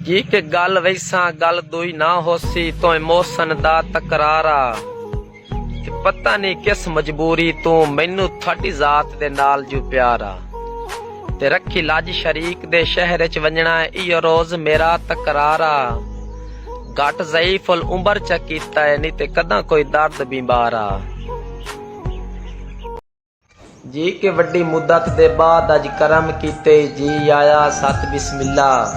ہک گل ویساں گل دوئی نہ ہوسی توں محسن دا تکرار آ کہ پتہ نی کس مجبوری توں مینوں تھاڈی ذات دے نال جو پیار آ تے رکھی لاج شریک دے شہر اچ ونجنڑاں ایہو روز میرا تکرار آ گھٹ ضعیف العمر چا کیتا اے نی تے کداں کوئی درد بیمار آ۔ جی کہ وڈی مدت دے بعد اج کرم کیتے جی آیا ست بسم اللہ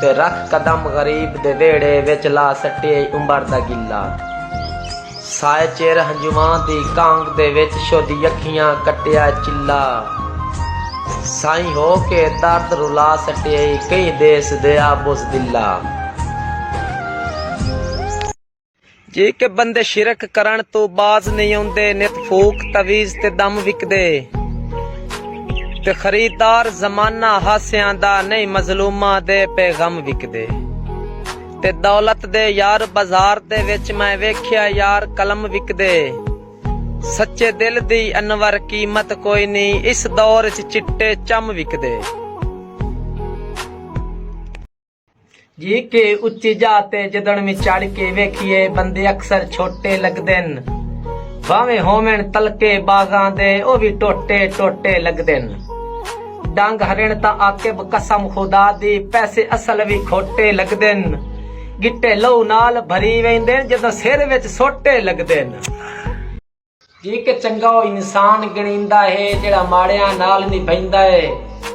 تے رکھ قدم غریب دے ویڑھے وچ لا سٹیے عمر دا گلہ سائے چیر ہنجواں دی کانگ دے وچ شودی اکھیاں کٹیا چلہ سائیں ہو کے درد رلا سٹیے کئی دیس دے آ بزدلہ جے کہ بندے شرک کرن تو باز نہیں آندے نت فوک تویز تے دم وکدے تے خریدار زمانہ ہاسیاں دا نہیں مظلومہ دے پہ غم وکدے تے دولت دے یار بازار دے وچ میں ویکھیا یار قلم وکدے سچے دل دی انور قیمت کوئی نہیں اس دور چ چٹے چم وکدے جی کے اچی جا تے جدن میں چڑھ کے ویکھیے بندے اکثر چھوٹے لگدن بھاویں ہوون تلکے باغاں دے او وی ٹوٹے ٹوٹے لگدن ڈنگ ہرن تا عاقب قسم خدا دی پیسے اصل وی کھوٹے لگدن گٹے لو نال بھری ویندن جدوں سر وچ سوٹے لگدن جیکے چنگا او انسان گنڑیندا ہے جیڑھا ماڑیاں نال نبھیندا ہے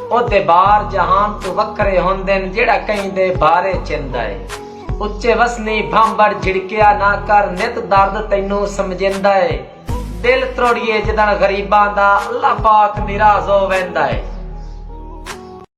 او دے بار جہان توں وکھرے ہوندن جیڑھا کہیں دے بارے چیندا ہے اچے وسنی بھانبڑ جھڑکیا نہ کر نت درد تینوں سمجھیندا ہے دل تروڑیے جدن غریباں دا اللہ پاک نراض ہو ویندا ہے